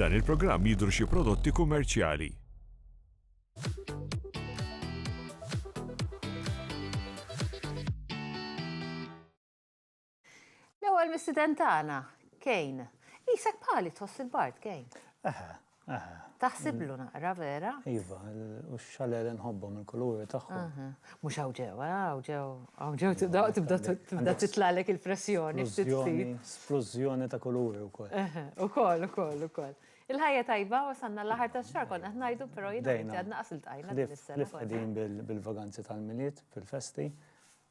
F'dan il-programm jidhru xi prodotti kummerċjali. L-ewwel mistieden tagħna, Kane. Qisek bħali tħoss il-bard, Kane. Eħe, Taħsiblu naqra vera? Iva, u xaler nħobbhom il-kuluri tagħhom. Mhux hawn ġew, hawn ġew, hawn ġew tibda titlalek il-pressjoni. Splużjoni ta' kuluri wkoll. Ukoll, ukoll, ukoll. Il-ħajja tajba wasalna l-aħħar tax-xahar konna qed ngħidu però jiena għadna qas iltqajna. Ħdejn bil-vaganzi tal-Milied, bil-festi,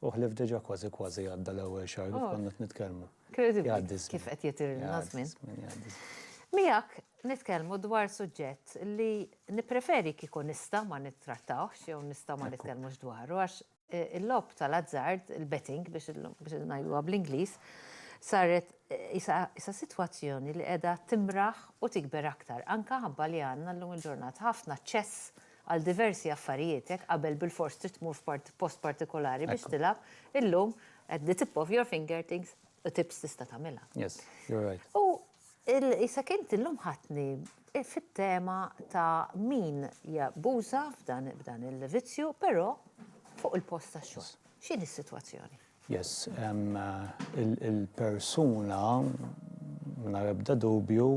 U ħlief diġà kważi kważi għadda l-ewwel xahar kif konna qed nitkellmu. Jgħaddi ż-żmien. Kif qed jitirilna ż-żmien. Jgħaddi ż-żmien. Miegħek nitkellmu dwar suġġett li nippreferi kieku nista' ma nittrattawhx jew nista' ma nitkellmux dwaru għax il-logħob tal-azzard, il-betting biex ngħiduha bl-Ingliż, saret qisha sitwazzjoni li qiegħda timraħ u tikber aktar anke ħabba li għandna llum il-ġurnata ħafna aċċess għal diversi affarijiet, jekk qabel bilfors trid tmur f'post partikolari biex tilgħab, illum at the tip of your finger things u tips tista' tagħmilha. Yes, you're right. U isek int illum ħadtni fit-tema ta' min jabbuża f'dan il-vizzju, però fuq il-post tax-xogħol. X'inhi s-sitwazzjoni? Yes, il-persuna mingħajr ebda dubju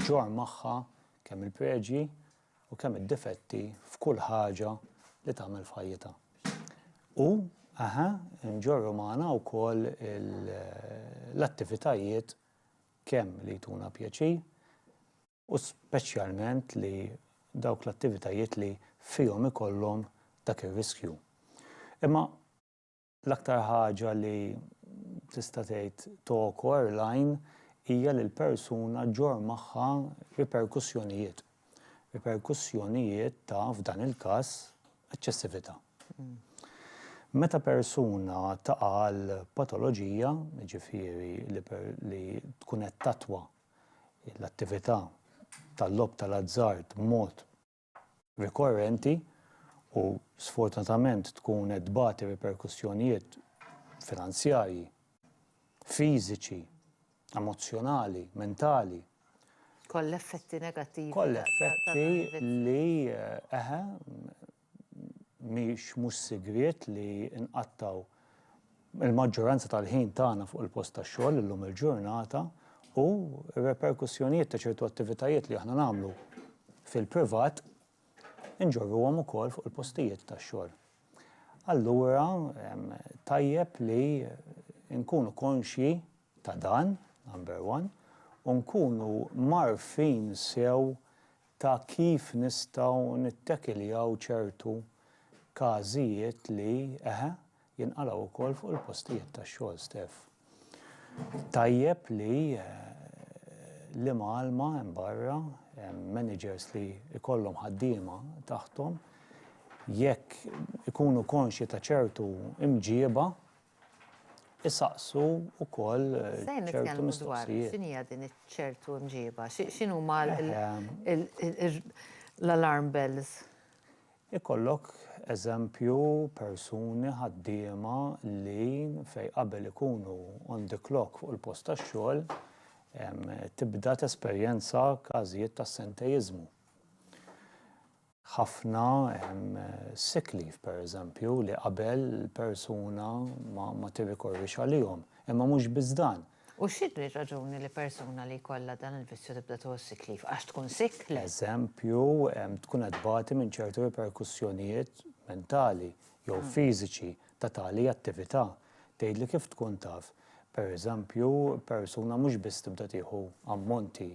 ġġorr magħha kemm il-preġi, u kemm id-difetti f'kull ħaġa li tagħmel f'ħajjitha. U, aha, nġorru magħna wkoll l-attivitajiet kemm li jtuna pjaċir u speċjalment li dawk l-attivitajiet li fihom ikollhom dak ir-riskju. Imma L-aktar ħaġa li tista' tgħid togħkor l-għajn hija li l-persuna ġġorr magħha riperkussjonijiet. Riperkussjonijiet ta', f'dan il-każ, eċċessività. Meta persuna taqa' għal patoloġija, jiġifieri li tkun qed tattwa l-attività tal-logħob tal-azzard b'mod, rikorrenti u sfortunatament tkun qed tbati riperkussjonijiet finanzjarji, fiżiċi, emozzjonali, mentali. Kollha effetti negattivi. Kollha effetti li eħe mhix mhux sigriet li nqattgħu Il-maġġoranza tal-ħin tagħna fuq il-post tax-xogħol illum il-ġurnata u r-reperkussjonijiet ta' ċertu attivitajiet li aħna nagħmlu fil-privat inġorruhom ukoll fuq il-postijiet tax-xogħol. Allura tajjeb li nkunu konxji ta' dan, number one, u nkunu mgħarrfin sew ta' kif nistgħu nittekiljaw ċertu każijiet li, eħe, jinqalgħu wkoll fuq il-postijiet tax-xogħol stess. Tajjeb li l-imgħallma hemm barra, hemm managers li jkollhom ħaddiema taħthom, jekk ikunu konxji ta' ċertu mġiba, isaqsu wkoll ċertu mistoqsijiet. X'inhi din iċ-ċertu mġiba? X'inhuma l-alarm bells? Ikollok, eżempju, persuni, ħaddiema, li fejn qabel ikunu on the clock fuq il-post tax-xogħol, tibda tesperjenza każijiet ta' assenteiżmu. Ħafna sick leave, pereżempju, li qabel persuna ma tirrikorrix għalihom. Imma mhux biss dan, U x'inhi r-raġuni li persuna li jkollha dan il-vizzju tibda tuħu s-sick leave? Għax tkun sick? Le. Eżempju, tkun qed tbati minn ċertu riperkussjonijiet mentali jew fiżiċi ta' tali attività. Tgħidli kif tkun taf? Per eżempju, persuna mhux biss tibda tieħu ammonti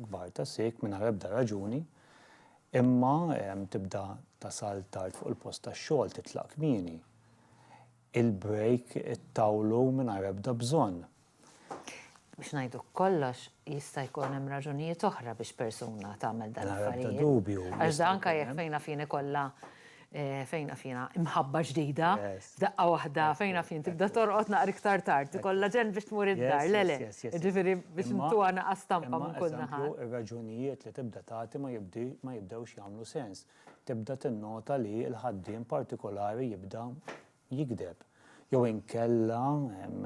kbar ta' sick mingħajr ebda raġuni, imma tibda tasal tard fuq il-post tax-xogħol, titlaq kmieni. il-break ittawlu mingħajr ebda bżonn. Biex ngħiduk kollox, jista' jkun hemm raġunijiet oħra biex persuna tagħmel dan l-affarijiet. Bla ebda dubju. Għax dan anke jekk fejn naf jien ikollha fejn naf jiena imħabba ġdida, f'daqqa waħda fejn naf jien tibda torqod naqra iktar tard, ikollha ġenn biex tmur id-dar, le le. Jiġifieri biex intuha naqas stampa minn kull naħa. Imma, pereżempju, ir-raġunijiet li tibda tagħti ma jibdewx jagħmlu sens. tibda tinnota li l-ħaddiem partikolari jibda jigdeb, jew inkella,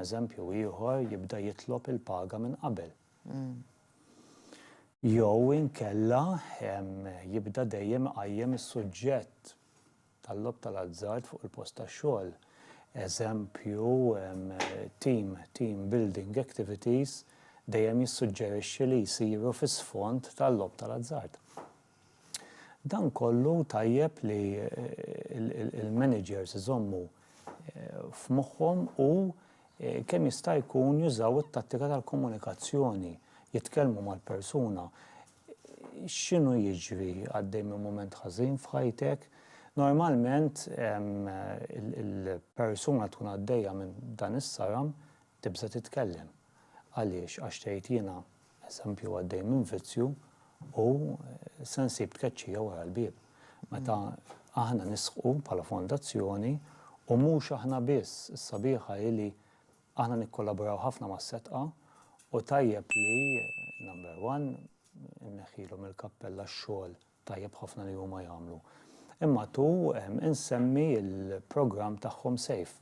eżempju ieħor, jibda jitlob il-paga minn qabel. Jew inkella jibda dejjem iqajjem is-suġġett tal-logħob tal-azzard fuq il-post tax-xogħol. Eżempju, team, team building activities dejjem jissuġġerixxi li jsiru fi sfond tal-logħob tal-azzard. Dan kollu tajjeb li l-managers iżommu f'moħħhom u kemm jista' jkun jużaw it-tattika tal-komunikazzjoni, jitkellmu mal-persuna. X'inhu jiġri? Għaddej minn mument ħażin f'ħajtek? Normalment il-persuna tkun għaddejja minn dan is-saram tibża' titkellem. Għaliex? Għax tgħid jiena eżempju għaddej minn vizzju u se nsib tkeċċija wara l-bieb. Meta aħna nisħqu bħala fondazzjoni u mhux aħna biss, is-sabiħa hi li aħna nikkollaboraw ħafna mas-setqa u tajjeb li number one inneħħilhom il-kappella x-xogħol tajjeb ħafna li huma jagħmlu. Imma tu insemmi l-programm tagħhom safe.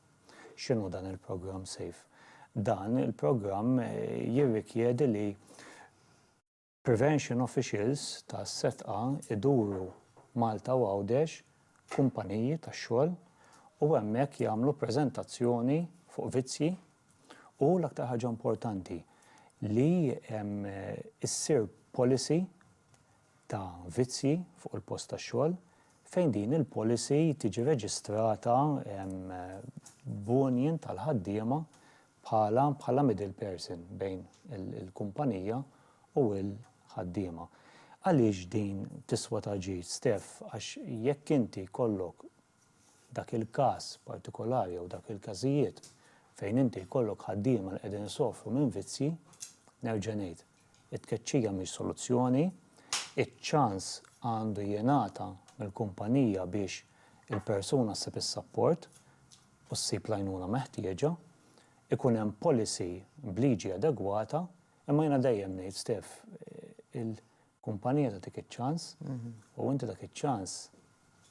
X'inhu dan il-programm safe? Dan il-programm jirrikjedi li prevention officials tas-setqa jduru Malta u Għawdex f'kumpaniji tax-xogħol u hemmhekk jagħmlu preżentazzjoni fuq vizzji u l-aktar ħaġa importanti li ssir policy ta' vizzji fuq il-post tax-xogħol fejn din il-policy tiġi reġistrata b'union tal-ħaddiema bħala bħala middle person bejn il-kumpanija u l-ħaddiema. Għaliex din tiswa ta' ġid, Steph? Għax jekk inti jkollok F'dak il-każ partikolari jew dak il-każijiet fejn inti jkollok ħaddiema li qegħdin isofru minn vizzji, nerġa' ngħid, it-tkeċċija mhix soluzzjoni, iċ-ċans għandu jingħata mill-kumpanija biex il-persuna ssib is-sapport u ssib l-għajnuna meħtieġa, ikun hemm policy b'liġi adegwata, imma jiena dejjem ngħid, Steph, il, Kumpanija tagħtik iċ-ċans u inti dak iċ-ċans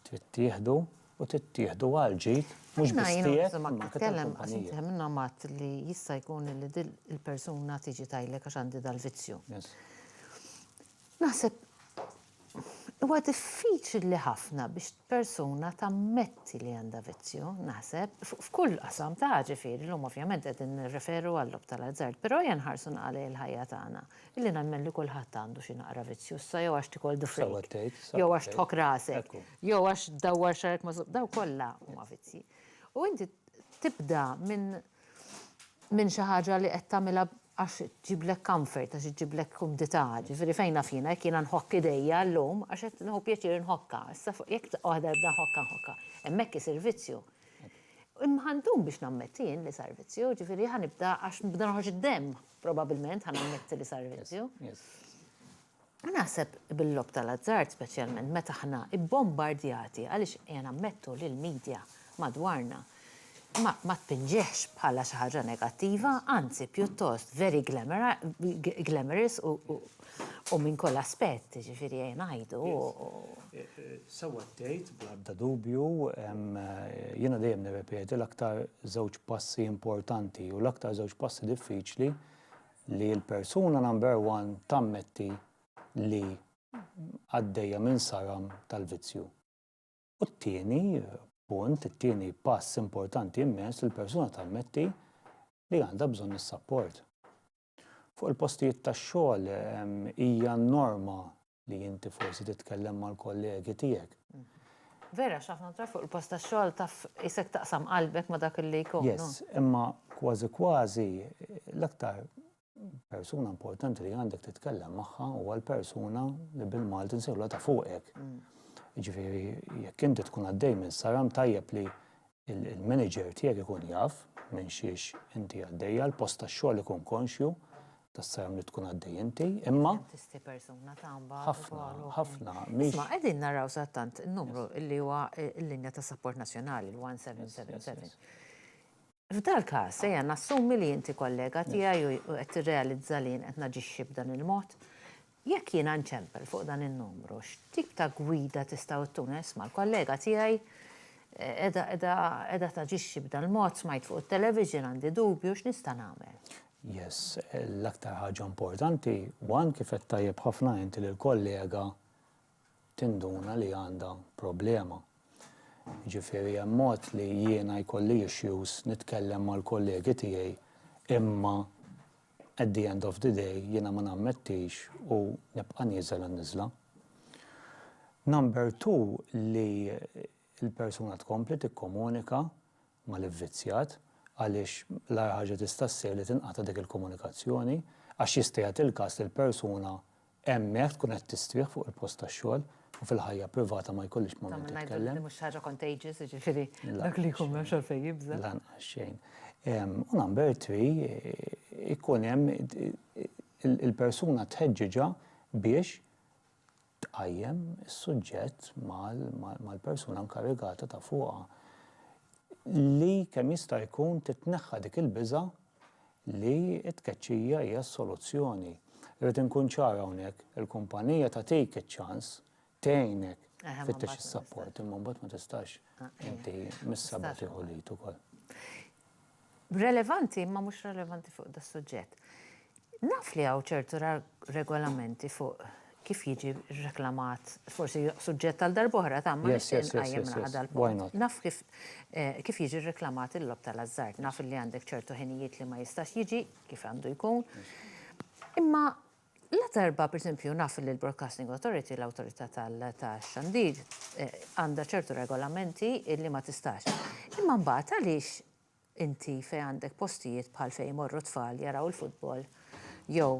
trid tieħdu u trid tieħdu għal ġid mhux biss tiegħek imma anke tal-kumpanija. Hemm min għad li jista' jkun li din il-persuna tiġi tgħidlek għax għandi dal-vizzju. Naħseb huwa diffiċli ħafna biex persuna tammetti li għandha vizzju, naħseb, f'kull qasam ta' ġifieri, llum ovvjament qegħdin nirreferu għal-logħob tal-azzard, però jenħarsu nqalli l-ħajja tagħna. Illi nemmen li kulħadd għandu xi naqra vizzjużża jew għax tikol the freak. Sewwa tgħid, sewwa tgħid. Jew għax tħokk rasek. Ekku. Jew għax tdawwar xagħrek ma' żopp. Dawn kollha huma vizzji. U inti tibda minn minn xi ħaġa li qed tagħmilha għax tġiblek comfort, għax iġġiblek kumdità. Ġifieri fejn naf jiena jekk jiena nħokk idejja llum għax qed nieħu pjaċir inħokkha. Issa fuq jekk daqqa waħda nibda nħokkha nħokkha. Hemmhekk isir vizzju. Imma ħa ndum biex nammetti jien li sar vizzju, ġifieri ħa nibda għax nibda noħroġ id-demm. Probabbilment ħa nammetti li sar vizzju. Naħseb bil-lob tal-azzard speċjalment meta aħna ibbombardjati għaliex qiegħ nammettu li l-media madwarna ma tpinġihx bħala xi ħaġa negattiva, anzi pjuttost very glamorous u U minn kull aspett, jiġifieri ejja ngħidu. Sewwa tgħid bla ebda dubju, jiena dejjem nirrepeti l-aktar żewġ passi importanti u l-aktar żewġ passi diffiċli li l-persuna number one tammetti li għaddejja minn saram tal-vizzju. U t-tieni punt, it-tieni pass importanti immens li l-persuna tammetti li għandha bżonn is-sapport. Fuq il-postijiet tax-xogħol hija n-norma li inti forsi titkellem mal-kollegi tiegħek. Vera, x'ħafna drabi fuq il-post tax-xogħol taf isek taqsam qalbek ma' dak li jkun. Yes, imma kważi kważi l-aktar persuna importanti li għandek titkellem magħha huwa l-persuna li bil-Malti nsejħlu ta' fuqek. Mm. Ġifieri jekk inti tkun għaddej minn saram tajjeb li il-manager tiegħek ikun jaf minn xiex inti għaddejja, l-post tax-xogħol ikun konxju tas-sajm li tkun għaddej inti, imma. Tisti persuna tamba. Ħafna, ħafna. Isma, qegħdin naraw sattant numru li huwa l-linja ta' support nazzjonali, l-1777. F'dal każ, ejja nassumi li inti kollega tiegħi u qed tirrealizza li jien qed naġixxi b'dan il-mod. Jekk jiena nċempel fuq dan in-numru, x'tip ta' gwida tistgħu ttuna? Isma' l-kollega tiegħi qiegħda taġixxi b'dal-mod, smajt fuq it-television, għandi dubju, x'nista' nagħmel? Yes, l-aktar ħaġa importanti, one, kif għedt tajjeb ħafna inti li l-kollega tinduna li għandha problema. Jiġifieri hemm mod li jiena jkolli issues nitkellem mal-kollegi tiegħi imma At the end of the day jiena ma nammettix u nibqa' nieżel għan-niżla. Number two li l-persuna tkompli tikkomunika mal-ivvizzjat għaliex l-agħar ħaġa tista' ssir li tinqata' dik il-komunikazzjoni għax jista' jagħti l-każ li l-persuna Hemmhekk tkun qed tistrieħ fuq il-post tax-xogħol u fil-ħajja privata ma jkollix moment titkellem. Tagħmel ngħidu li mhux xi ħaġa contagious, jiġifieri dak li jkun m'hemmx għalfejn jibża'. Lanqas xejn. U number three, ikun hemm il-persuna tħeġġiġha biex tqajjem is-suġġett mal-persuna inkarigata ta' fuqha li kemm jista' jkun titneħħa dik il-biża' li t-tkeċċija hija s-soluzzjoni. Irrid inkun ċar hawnhekk, il-kumpanija tagħtik iċ-ċans tgħinek tfittex is-sapport, imma mbagħad ma tistax ah, eh. inti mis-sabat tieħu lid ukoll. Relevanti, imma mhux relevanti fuq das-suġġett. Naf li hawn ċertu regolamenti fuq kif jiġi reklamat, forsi suġġett għal darb'oħra ta' ma nixtieq nqajjem naħa dal-punt. Naf kif jiġi reklamat il-logħob tal-ażżard, naf li għandek ċertu ħinijiet li ma jistax jiġi kif għandu jkun. Imma ladarba, pereżempju, naf li l-Broadcasting Authority, l-Awtorità tax-Xandir, għandha ċertu regolamenti li ma tistax. Imma mbagħad għaliex inti fejn għandek postijiet bħal fejn imorru t-tfal jaraw il-futbol jew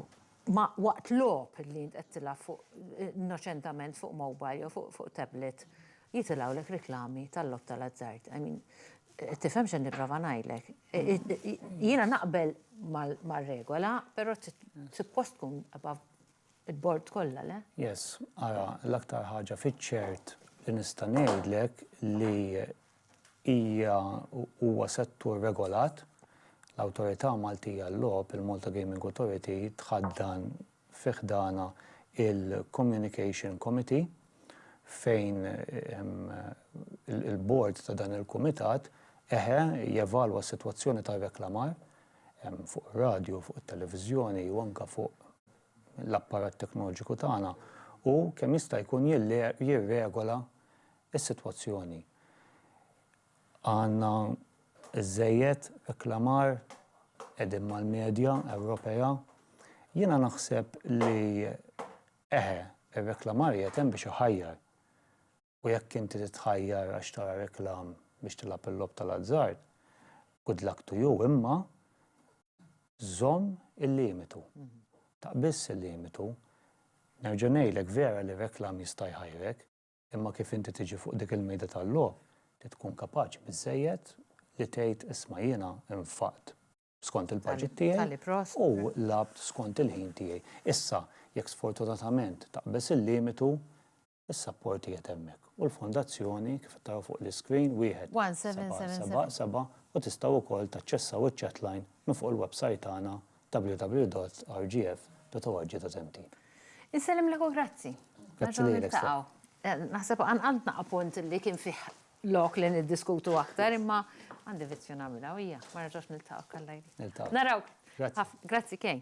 ma waqt logħob li int qed tilgħab fuq innoċentament fuq mobile jew fuq fuq tablet jitilgħulek riklami tal-logħob tal-azzard. I mean, tifhem x'qed nipprova ngħidlek. Jiena naqbel mar-regola, però suppost tkun above il-bord kollha, le? Yes, ara, l-aktar ħaġa fiċ-ċert li nista' ngħidlek li hija u huwa settur regolat, l-Awtorità Maltija għal-Logħob, il-Malta Gaming Authority, tħaddan fi ħdanha il-Communication Committee fejn il-Bord ta' dan il-Kumitat, eħe, jevalwa s-sitwazzjoni tar-reklamar fuq ir-radju u fuq it-televiżjoni u anke fuq l-apparat teknoloġiku tagħna u kemm jista' jkun jirregola is-sitwazzjoni. Għandna żżejjed reklamar, qegħdin mal-medja Ewropea. Jiena naħseb li eħe, ir-reklamar qiegħed hemm biex iħajjar. U jekk inti titħajjar għax tara reklam biex tilgħab il-logħob tal-azzard, good luck to you, imma żomm il-limitu. Taqbiżx il-limitu. Nerġa' ngħidlek vera li reklam jista' jħajrek. Imma kif inti tiġi fuq dik il-mejda tal-logħob, trid tkun kapaċi biżżejjed li tgħid isma' jiena nfaqt skont il-budget tiegħi u lgħabt skont il-ħin tiegħi. Issa, jekk sfortunatament taqbeż il-limitu, is-sapport qiegħed hemmhekk u l-Fondazzjoni, kif qed taraw fuq l-iscreen, 1777 u tistgħu wkoll taċċessaw iċ-chatline minn fuq il-websajt tagħna www.rgf.org ta' Żenti. Insellmlek u grazzi. Grazzi lilek. Naħseb għandna appunt li kien fih lok li niddiskutu aktar imma għandi vizzju nagħmilha u hija ma nerġgħux niltaqgħu. Niltaqgħu. Narawk. Grazzi. Grazzi Kay.